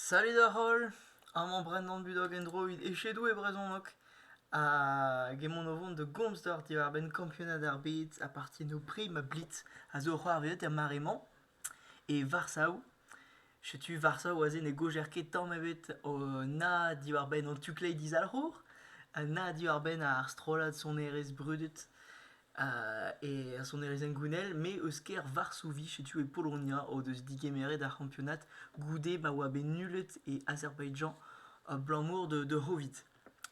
Salut da holl, amañ Brendan Budoc endroit echedoù e brezhoneg hag emaon o vont da gomz deoc'h diwar-benn kampionad ar bed ha partie no prix ma blid a zo c'hoarvezet er mare-mañ e Varsav. Setu Varsa oa-se ne gojer ket tamm ebet na diwar-benn an tu-kleiz dizalc'hour, na diwar-benn ar strollad sonerezh brudet e ar sonerezh hengounel, me eus kêr Varsovie, setu e Polonia, o deus digemeret ar c'hampionad goude ma oa bet nullet e Azerbaidjan abalamour da C'hovid.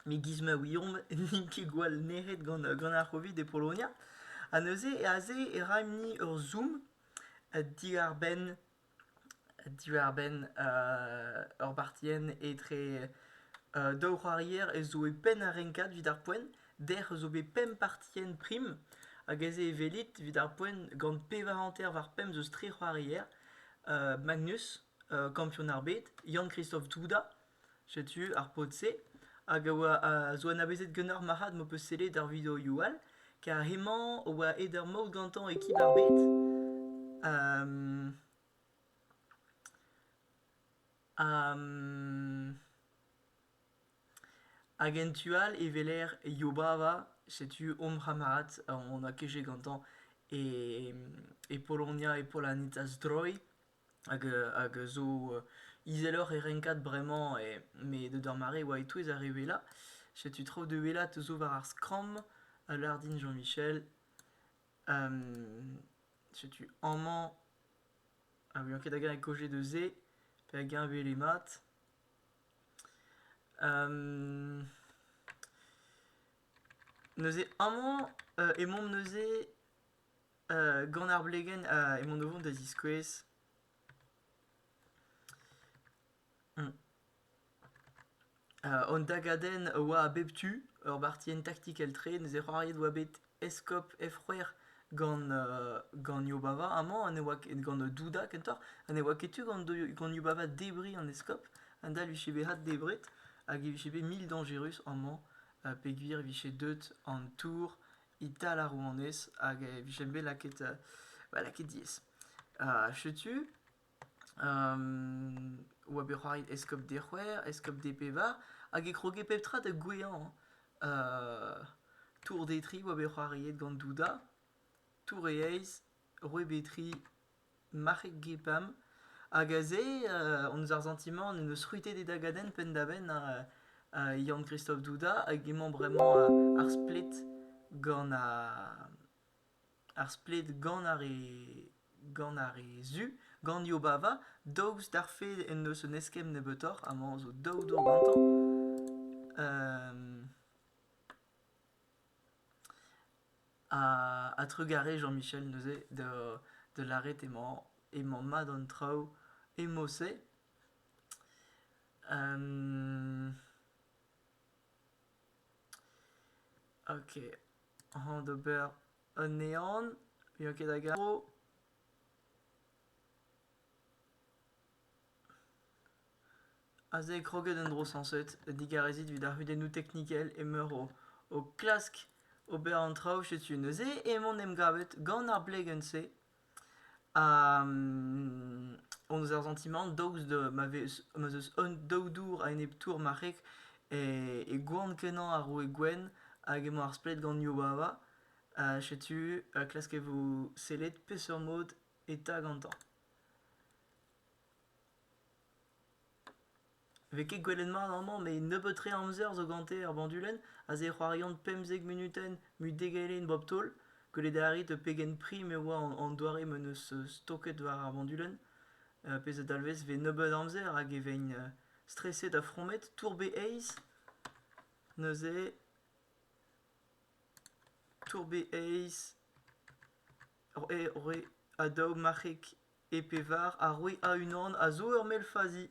Me giz ma ouiomp n'int ket gwall nec'het gant ar C'hovid e Polonia. Ha neuze, aze e raemp-ni ur zoom diwar-benn diwar-benn ur bartienn etre daou c'hoarier ez zo e penn ar renkad evit ar poent. Dec'h zo bet pemp partienn prim hag aze e welit evit ar poent gant pevar hanter war pemp deus tri c'hoarier. Magnus, kampion ar bed, Yann-Kristof Douda. Setu ar pod-se hag a oa a zo anavezet ganeoc'h marc'had m'ho peus sellet ar videoioù all, kar hemañ a oa aet ur maout gantañ ekip ar bed. Hag en tu all e weler Yobava, setu hom c'hamarad on a keje gantañ e Polonia, e Polanitas Droy. hag a zo izeloc'h e renkad bremañ met d'ober mare e oa e-touez ar re wellañ. Setu traoù da wellañ zo war ar skramm, al lardin Jean-Michel, setu amañ a ouien ket hag-eñ e koje da se pe hag-eñ e wele mat. Neuze amañ emaomp neuze Gant ar blegenn emaon o vont da ziskouez hon dagadenn a oa a bep tu, ur bartienn taktikel-tre, neuze c'hoariet oa bet Eskob F-c'hwec'h gant Yobava amañ ha ne oa ket gant Duda kentoc'h ha ne oa ket tu gant Yobava debriñ an eskob, adal vije bet addebret hag e vije bet mil dañjerus amañ peogwir e vije deut an tour Ital ar rouanez hag e vijent bet lakaet, ba lakaet diaes. setu oa bet c'hoari eskob Dec'hwer, eskob Depévar hag e kroge pep tra da gouezhañ. tour Detry oa bet c'hoariet gant Douda, tour e aez, roue Betry, marc'heg gepam hag aze hon eus ar santimant en deus c'hwitet e dagadenn penn-da-benn ar Yann-Kristof Douda hag emañ bremañ ar splet gant ar splet gant ar re gant ar re zu gant Yobava daoust d'ar fed en deus un eskemm nebeutoc'h amañ zo daou dour gantañ Ha trugarez Jean-Michel neuze da lâret emañ mat an traoù emo-se. Ok, hañ d'ober anezhan, n'eo ket da garo. Aze eo kroget an dro sañset, digarezit evit ar c'hudennoù teknikel emeur o klask ober an traoù setu neuze emaon en em gavet gant ar blegenn-se ha hon eus ar santimant daoust da ma vez ma 'z eus un daou dour a-enep tour marc'heg e goan-kenañ ar roue gwenn hag emañ ar splet gant Yubawa. setu klask e vo sellet peseurt mod eta gantañ. 'vez ket gwelet mat amañ met nebeut-tre amzer zo gante er bandulenn aze e c'hoariont pemzek munutenn mut degadenn bop taol gwelet a rit pegen prim e oa an doare ma 'neus stoket war ar bandulenn pezh a dalvez 'vez nebeut amzer hag e veint streset ha fromet tourbe aes neuze tourbe aes re adaog marc'heg E pevar a roe a-unan a zo ur mell fazi.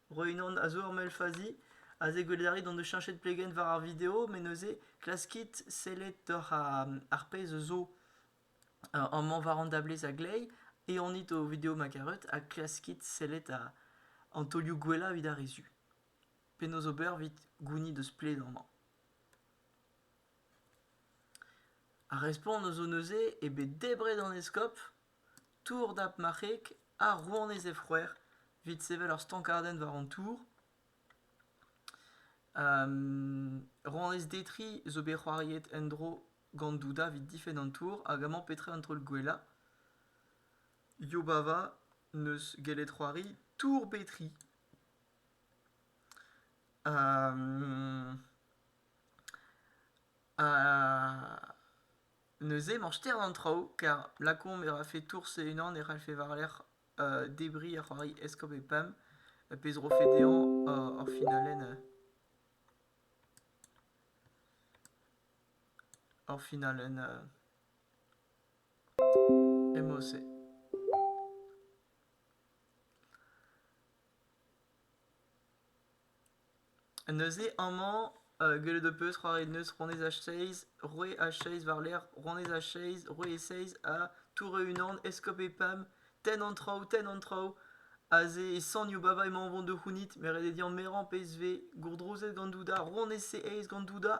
Roe unan a zo ur mell fazi. Aze gwelet a rit hon eus cheñchet plegenn war ar video, met neuze klaskit sellet doc'h ar ar pezh zo euh, amañ war an dablez a-gleiz e anit ho video ma karet ha klaskit sellet a- an taolioù gwellañ evit ar re zu. Penaos ober evit gounit eus pled amañ? Ar respont eus neuze eo bet debret an eskob Tour dap marc'heg ha rouanez he c'hwec'h, evit sevel ur stankadenn war an tour. rouanez Detri zo bet c'hoariet en-dro gant Duda evit difenn an tour hag amañ petra an taol gwellañ. Yobava n'eus gellet c'hoari Tour Betri. ha Neuze emañ ster an traoù kar lakaomp e rafe tours e-unan e c'hallfe war-lerc'h debriñ ar c'hoari eskob e pemp, pezh 'rofe dezhañ ur finalenn ur finalenn emo-se. Neuze amañ gellet ho peus c'hoaret neuz Ronez ha Seiz, Roue ha Seiz war-lerc'h Ronez ha Seiz, Roue e Seiz ha Toure-unan, Eskob e Pam, tenn an traoù, tenn an traoù. Aze e sanio Baba emañ o vont da c'hounit, me 'red eo din merañ pezh 'vez gourdrozet gant Douda, Ronez e Eiz gant Douda.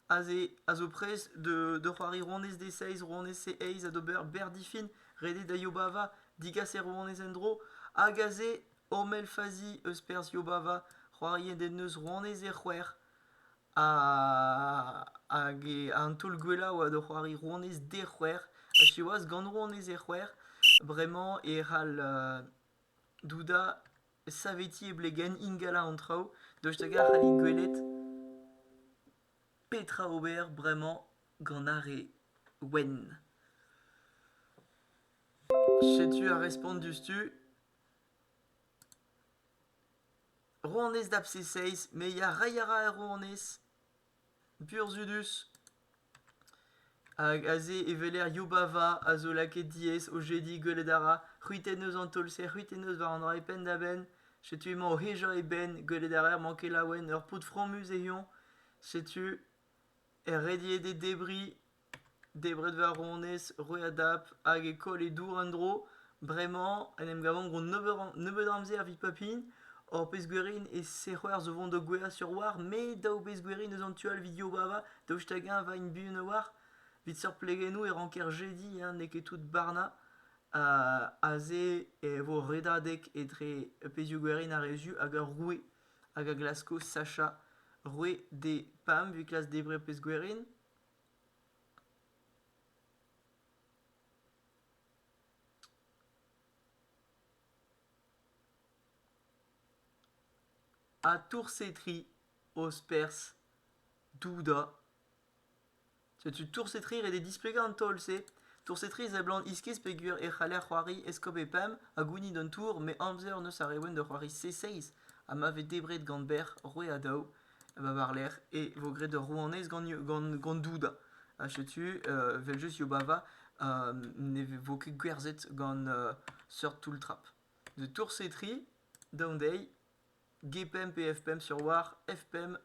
aze a zo prest da c'hoari rouanez D6, rouanez C8 ha d'ober Berdifin, redet da Yobava, digas e rouanez en-dro, hag aze Ormel Fazi eus perzh Yobava, c'hoarien den eus rouanez e c'hwec'h, hag an taol gwellañ oa da c'hoari rouanez D c'hwec'h, ha siwazh gant rouanez e c'hwec'h, bremañ e c'hall Douda, saveti e blegenn ingalañ an traoù, daoust hag-eñ a c'hallit gwelet petra ober bremañ gant ar re wenn? Setu ar respont diouzhtu. Rouanez da Abscesses, me ya, reiñ a ra er rouanez. Burzhudus. Hag aze e weler Yubava a zo lakaet diaes o jediñ gwelet a ra c'hwitennoz an taol-se c'hwitennoz war an dra eo penn-da-benn. Setu emañ o hejañ e benn gwelet a raer mañ ket laouen ur paotr fromus e-hont. Setu er rediet e debriñ. Debret va ronez, roet a dap, hag e koll e dour en-dro. Bremañ en em gavan gant nebeut am- nebeut amzer evit papin. Ur pezh gwerin e-se c'hoazh o vont da gouezhañ sur a-walc'h. Me daou bezh gwerin eus an tu all evit Yobava, daoust hag-eñ 'vat int buan a-walc'h. Evit seurt plegennoù e ranker jediñ hein, n'eo ket tout barnañ. Aze e vo redadeg etre pezhioù-gwerin ar re zu hag ar roue hag a glasko sachañ roue d'e pab evit klask debriñ ur pezh gwerin. Atoursetri, ospers, douda. Setu toursetri ret eo displegañ an taol-se. Toursetri seblant iskis peogwir e c'haller c'hoari eskob e pemp ha gounit an tour, met amzer 'neus ar Rewen da c'hoari C6 ha ma vez debret gant bec'h roue ha daou. va varlerc'h, e vo graet ur rouanez gant Douda. Ha setu, evel-just, Yobava ne vo ket gwerzhet gant seurt toull-trap. De Toursetri, daon dezhi, G5 et F5 sur War, F5,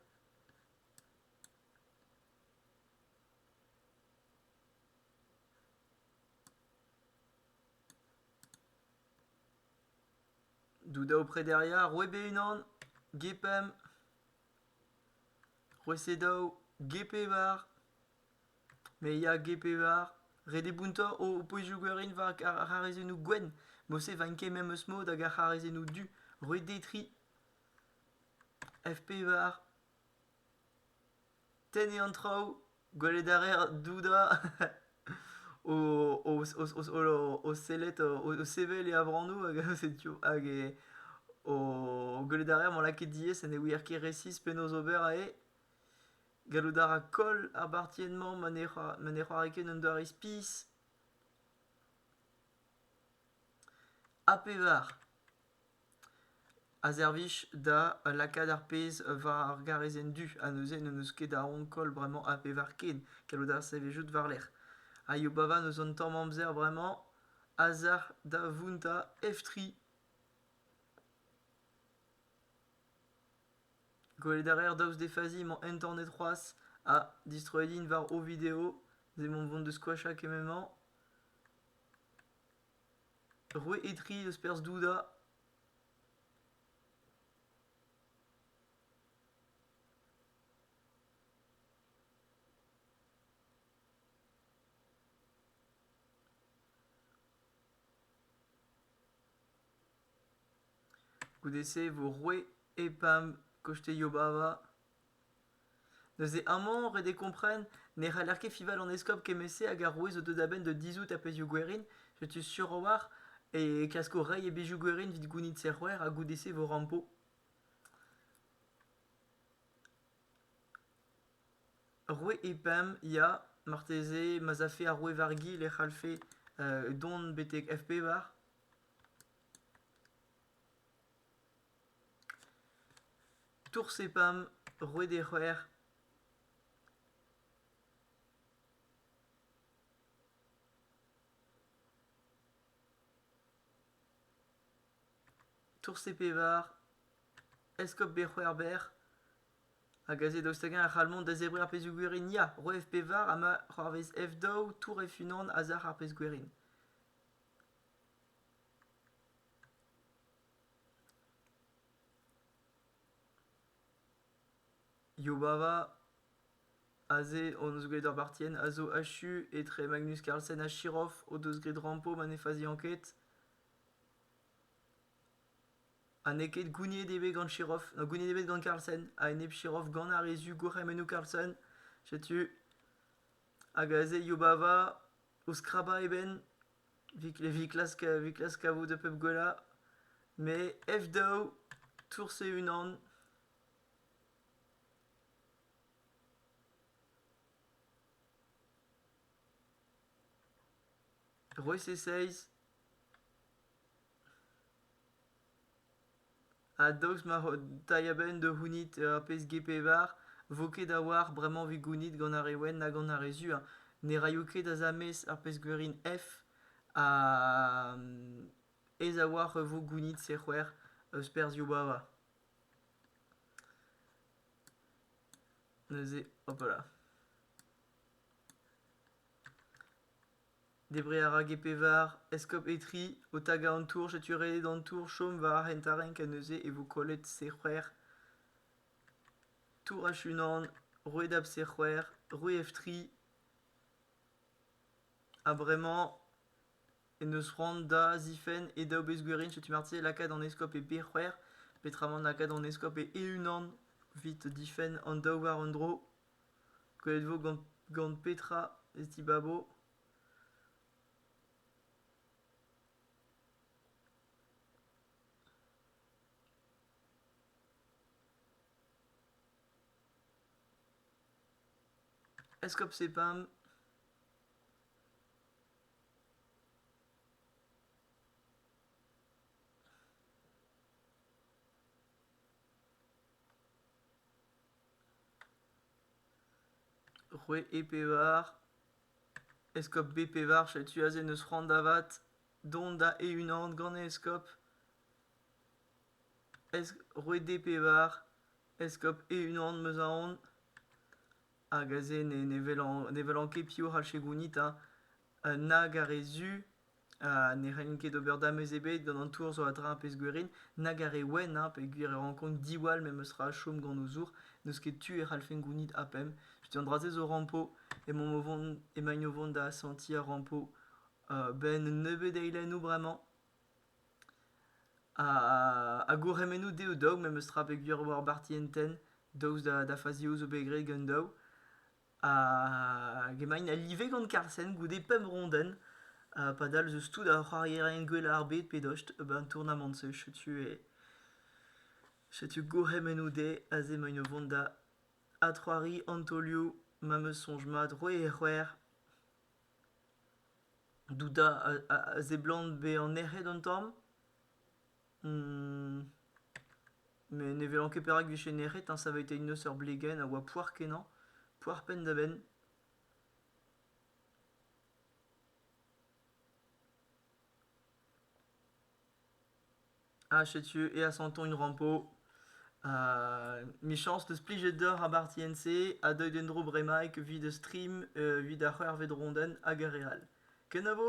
Dout da ho prederia, roit be-unan, Ge pemp, roit se daou, Ge pevar, me ya Ge pevar, ret eo bountañ ho pouezioù gwerin war ar c'harazennoù gwenn, mod-se 'vank ket memes mod hag ar c'harazennoù du, roit dezhi tri, F pevar. tenniñ an traoù, gwelet a reer doudañ o sellet, o sevel e avanoù hag gwelet a reer mañ lakaet diaes ha ne ouier ket resis penaos ober aze. Gallout a ra koll ar bartienn-mañ ma ne c'hoari ket un doare spis. Ha pevar. A servij da lakaat ar pezh war ar garezenn du ha neuze n'en deus ket a ankol bremañ a bevar ken gallout a ra servijout war-lerc'h. Ha Yobava n'eus un tamm amzer bremañ a-zalc'h da vountañ F3. Gwelet a raer daoust d'he fazi emañ internet c'hoazh ha distroet int war o video. N'emañ o vont da skoachañ kement-mañ. Roet eo tri eus perzh Douda. Goude-se e vo roet EPAM Koste Yobava. Neuze amañ, ret eo kompren, ne c'haller ket fival an eskob kement-se hag arouez zo deuet a-benn da dizhout ar pezhioù gwerin, setu sur a-walc'h e klasko reiñ e bezhioù gwerin evit gounit serc'hwec'h ha goude-se e vo rampo. Roue Epam, ya, marteze ma'z afe ar roue Vargi e c'hallfe dont betek F-pevar. Toursepam, roet he c'hwec'h. Toursepevar, eskob be c'hwec'hber, hag aze daoust hag-eñ a c'hall mont da zebriñ ar pezhioù gwerin ya, roet F pevar ha ma c'hoarvez F daou, tour F-unan a-zac'h ar pezh gwerin. Yubava, aze hon eus graet ur bartienn, a zo achu etre Magnus Carlsen ha Chirov o deus graet rampo ma ne faziañ ket. Ha n'eo ket gouniet eo bet gant Chirov, na gouniet eo bet gant Carlsen a-enep Chirov gant ar re zu gourc'hemennoù Carlsen, setu. Hag aze Yubava o skrabañ e benn. Evit klask evit klask kavout pep gwellañ, met F-daou tours e-unan. Rois e seizh. ha daoust ma ro dai a-benn da c'hounit ur pezh g-pevar 'vo ket a-walc'h bremañ 'vit gounit gant ar re wenn ha gant ar re zu hein ne raio ket asamez ar pezh-gwerin f ha aes a-walc'h e vo gounit se-c'hwec'h eus perzhioù bava neuze hopala Debriñ a ra get pevar eskob Etri o tagañ an tour setu ret an tour chom war ar hent-tarrenk ha neuze e vo kollet sec'hwer tour H1 roued ab sec'hwer roued F3 ha bremañ en deus c'hoant da zifenn e daou bezgwerin setu marteze lakaat an eskob e B-c'hwec'h peotramant lakaat an eskob e E-unan evit difenn an daou war un dro. Krouet 'vo gant petra ez dibabo ? Eskob Sepam. Roue E-Pevar, eskob B-Pevar, setu aze n'eus c'hoant da vat dont da e-unan gant e eskob. Es- roue D-Pevar, eskob e-unan 'm eus aon. Hag aze ne ne welan ne welan ket piv 'c'hall choigounit, hein. Nag ar re zu. Ha ne c'hellin ket ober damez ebet gant an tour zo a-dra ar pezh-gwerin, nag ar re wenn hañ, peogwir e rankont diwall memes tra chom gant o zour. N'eus ket tu e c'hallfen gounit APEM. Setu an dra-se zo rampo. Emaomp o vont, emaint o vont da asentiñ ar rampo benn un nebeud eilennoù bremañ. Ha ha gourc'hemennoù dezho daou memes tra peogwir e oa ar barti en tenn. Daoust da faziaoù zo bet graet gant daou. hag emaint a live gant Carsen goude pemp rondenn. Ha padal eus tout ar c'hoarierien gwellañ ar bed pe dost, ben an tournamant-se setu e setu gourc'hemennoù dezhe aze emaint o vont da adc'hoari antolioù ma 'm eus soñj mat roe e c'hwec'h douda a, a, a seblant bezañ nec'het un tamm Ne ne welan ket perak 'vije nec'het hein, ça avait été une seur Blegen a oa poar-kenañ, poar penn-da-benn. Ah setu et à Santon une rampeau. Euh, michañs deus plijet deoc'h ar barti en-se ha deuit en-dro bremaik 'vit ur stream, euh, 'vit ar c'hwec'h 'vit ronden hag ar re all. Kenavo!